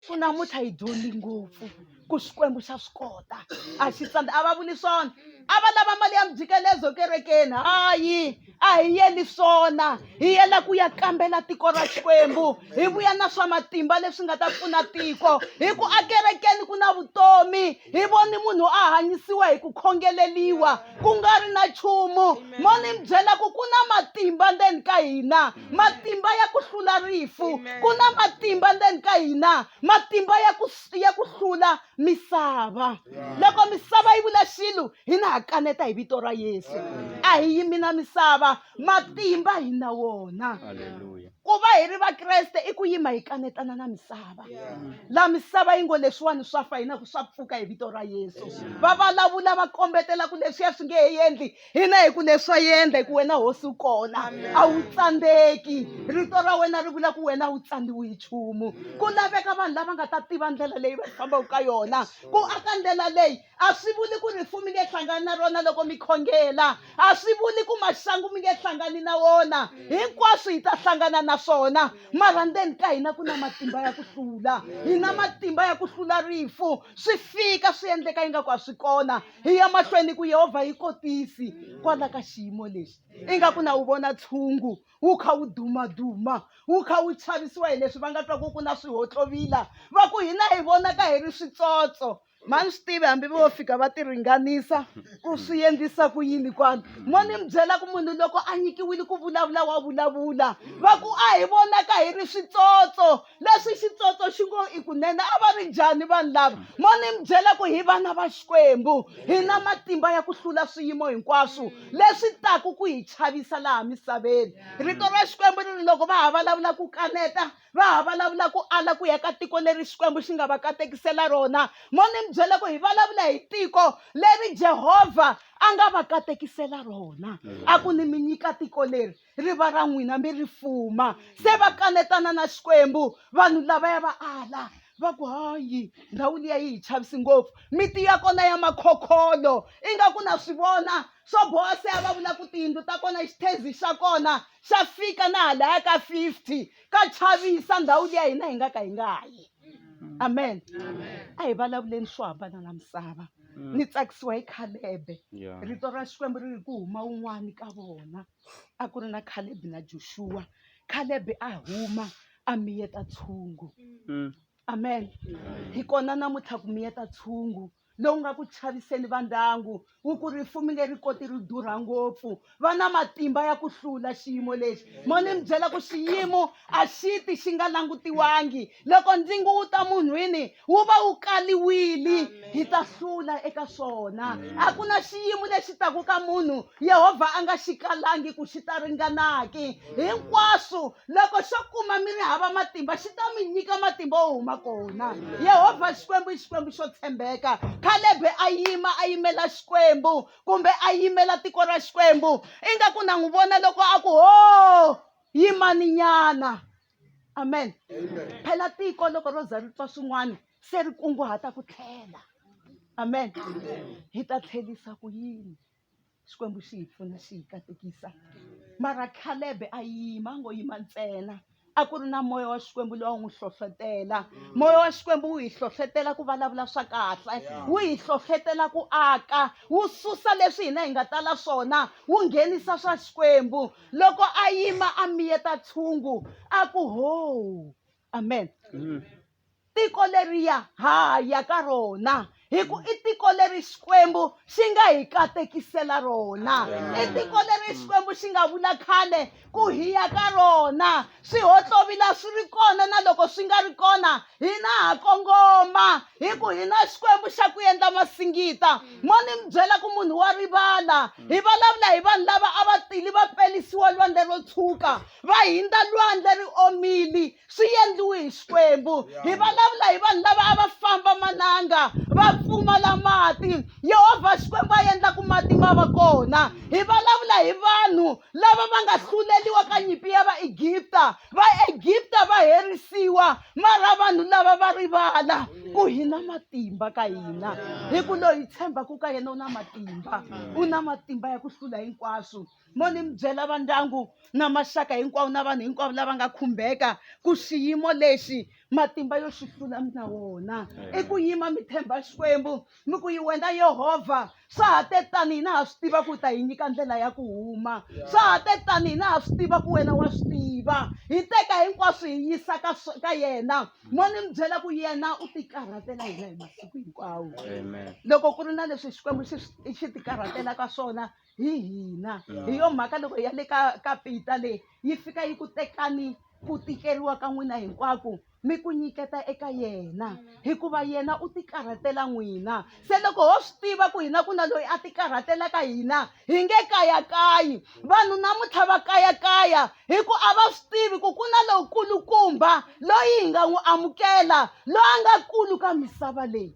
ku namuntlha hi dyondzi ngopfu ku xikwembu xa swi kota a xi tsandza a va vuli swona a va lava mali ya mjikelezo kerekeni hayi a hi yeli swona hi yela ku ya kambela tiko ra xikwembu hi vuya na swa matimba leswi nga ta pfuna tiko hi ku akerekeni ku na vutomi hi voni munhu a hanyisiwa hi ku khongeleliwa ku nga ri na nchumu mo ni mi byela ku ku na matimba ndzeni ka hina matimba ya ku hlula rifu ku na matimba ndzeni ka hina matimba ya ku ya ku hlula misava loko misava yi vula xilo hi na ha kaneta hi vito ra yesu a hi yimi na misava matimba hi na wona ku va hi ri vakreste i ku yima hi kanetana na misava la misava yi ngo leswiwani swa fa hina ku swa pfuka hi vito ra yesu va vulavula va kombetela ku leswiya swi nge he endli hina hi ku leswi wa yendla hi ku wena hosi u kona a wu tsandzeki rito ra wena ri vula ku wena a wu tsandziwi hi nchumu ku laveka vanhu lava nga ta tiva ndlela leyi va fambaka ka yona ku aka ndlela leyi a swi vuli ku ri rifu mi nge hlangani na rona loko mi khongela a swi vuli ku maxangu mi nge hlangani na wona hinkwaswo hi ta hlangana na swona mara ndzeni ka hina ku na matimba ya ku hlula hi na matimba ya ku hlula rifu swi fika swi endleka ingaku a swi kona hi ya mahlweni ku yehovha yi kotisi kwala ka xiyimo lexi ingaku na wu vona tshungu wu kha wu dumaduma wu kha wu chavisiwa hi leswi va nga twa ku ku na swihotlovila va ku hina hi vonaka hi ri switsotso ma ni swi tivi hambi vo fika va ti ringanisa ku swi endlisa ku yini kwani mo ni mi byela ku munhu loko a nyikiwile ku vulavula wa vulavula va ku a hi vonaka hi ri switsotso leswi xitsotso xi ngo i kunene a va ri njhani vanhu lava mo ni mi byela ku hi vana va xikwembu hi na matimba ya ku hlula swiyimo hinkwaswo leswi taku ku hi chavisa laha misaveni rito ra xikwembu ri ri loko va ha vulavula ku kaneta va ha vulavula ku ala ku ya ka tiko leri xikwembu xi nga va katekisela rona mo ni mi byela ku hi vulavula hi tiko leri jehovha a nga va katekisela rona a ku ni mi nyika tiko leri ri va ra n'wina mi ri fuma se va kanetana na xikwembu vanhu lavaya va ala va ku hayi ndhawu liya yi hi chavisi ngopfu miti ya kona ya makhokholo ingaku na swi vona swo boha se a va vula ku tiyindlu ta kona xithezi xa kona xa fika na halaya ka fifty ka chavisa ndhawu liya hina hi nga ka hi nga yi amen a hi vulavuleni swo hambana na misava mm. ni tsakisiwa hi khalebe rito ra xikwembu ri ri ku huma un'wani ka vona a ku ri na khalebi na joshuwa khalebi a huma a miyeta tshungu mm. amen hi kona namuntlha ku miyeta tshungu lowu nga ku chaviseni va ndyangu wu ku rifumi leri koti ri durha ngopfu va na matimba ya ku hlula xiyimo lexi mo ni mi byela ku xiyimo a xi ti xi nga langutiwangi loko ndzingu wu ta munhwini wu va wu kaliwile hi ta hlula eka swona a ku na xiyimo lexi taku ka munhu yehovha a nga xi kalangi ku xi ta ringanaki hinkwaswo loko xo kuma mi ri hava matimba xi ta mi nyika matimba wo huma kona yehovha xikwembu i xikwembu xo tshembeka khalebe a yima a yimela xikwembu kumbe a yimela tiko ra xikwembu ingaku na n'wi vona loko a ku ho yimani nyana amen phela tiko loko ro za ri twa swin'wana se ri kunguhata ku tlhela amen hi ta tlhelisa ku yini xikwembu xi hi pfuna xi hi katekisa mara khalebe a yima ngo yima ntsena a ku ri na moya wa xikwembu loyi a n'wi hlohlotela moya wa xikwembu wu hi hlohlotela ku vulavula swa kahle wu hi hlohlotela ku aka wu susa leswi hina hi nga tala swona wu nghenisa swa xikwembu loko a yima a miyeta tshungu a ku ho amen mm. tiko leriya ha ya ka rona hi ku i tiko leri xikwembu xi nga hi katekisela rona i tiko leri xikwembu xi nga vula khale ku hiya ka rona swihotlovila swi ri kona na loko swi nga ri kona hina ha kongoma hi ku hina xikwembu xa ku endla masingita mo ni mi byela ku munhu wa rivala hi vulavula hi vanhu lava a va tili va pelisiwa lwandle ro tshuka va hindza lwandle ri omili swi endliwe hi xikwembu hi vulavula hi vanhu lava a va famba mananga va pfumala mati yehovha xikwembu a endla ku mati ma va kona hi vulavula hi vanhu lava va nga hluleliwa ka nyimpi ya vaegipta vaegipta va herisiwa mara vanhu lava va rivala ku hi na matimba ka hina hi ku loyi tshembaka ka yena u na matimba u na matimba ya ku hlula hinkwaswo mo ni mi byela va ndyangu na maxaka hinkwawo na vanhu hinkwavo lava nga khumbeka ku xiyimo lexi matimba yo xi hlula mi na wona i ku yima mi tshemba xikwembu ni ku yi wena yehovha swa ha te tani hina ha swi tiva ku u ta hi nyika ndlela ya ku huma swa ha te tani hina ha swi tiva ku wena wa swi tiva hi teka hinkwaswo hi yisa ka ka yena mo ni mi byela ku yena u tikarhatela hina hi masiku hinkwawo loko ku ri na leswi xikwembu xi xi tikarhatelaka swona hi hina hi yo mhaka loko ya le ka ka pita leyi yi fika yi ku tekani ku tikeriwa ka n'wina hinkwako mi ku nyiketa eka yena hikuva yena u tikarhatela n'wina se loko ho swi tiva ku hina ku na loyi a tikarhatelaka hina hi nge kayakayi vanhu namuntlha va kayakaya hi ku a va swi tivi ku ku na lowukulukumba loyi hi nga n'wi amukela loyi a nga kulu ka misava leyi